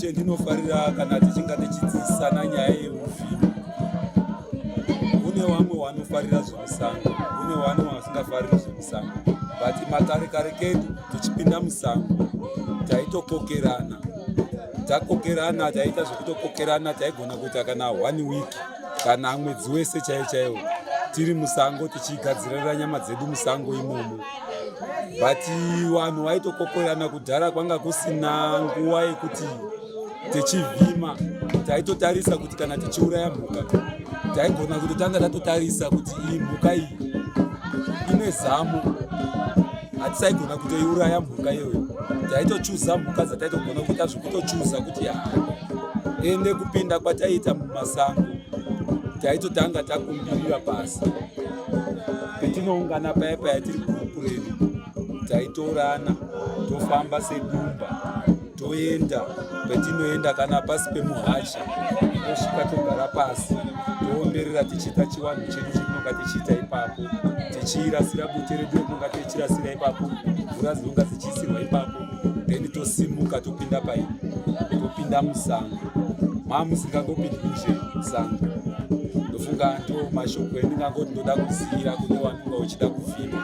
chendinofarira kana tichinga tichidzidzisana nyaya yeufi kune vamwe vanofarira zvemusango kune vamwe vasingafariri zvemusango but makare kare kedu tichipinda musango taitokokerana takokerana taiita zvekutokokerana taigona kuita kana one week kana mwedzi wese chaiyo chaiwo tiri musango tichigadzirira nyama dzedu musango imomo but vanhu vaitokokorana kudhara kwanga kusina nguva yekuti tichivhima taitotarisa kuti kana tichiuraya mhuka taigona kutotanga tatotarisa kuti iyi mhuka iyi ine zamo hatisaigona kutoiuraya mhuka iyoyo taitochuza mhuka dzataitogona kuita zvekutochuza kuti haa ende kupinda kwataiita mumasango taitotanga takumbirira pasi petinoungana paya paya tiri kuredu taitorana tofamba sedumba toenda petinoenda kana pasi pemuhacha tosvika togara pasi toomberera tichiita chivanhu chedu chetinonga tichiita ipapo tichiirasira bute redu retinonga tichirasira ipapo mvura dzinonga dzichiisirwa ipapo then tosimuka topinda pai topinda musango mamusingangopindi kunze musango ndofunga ndo mashoko endingangoti ndoda kusiyira kune wanonga uchida kufima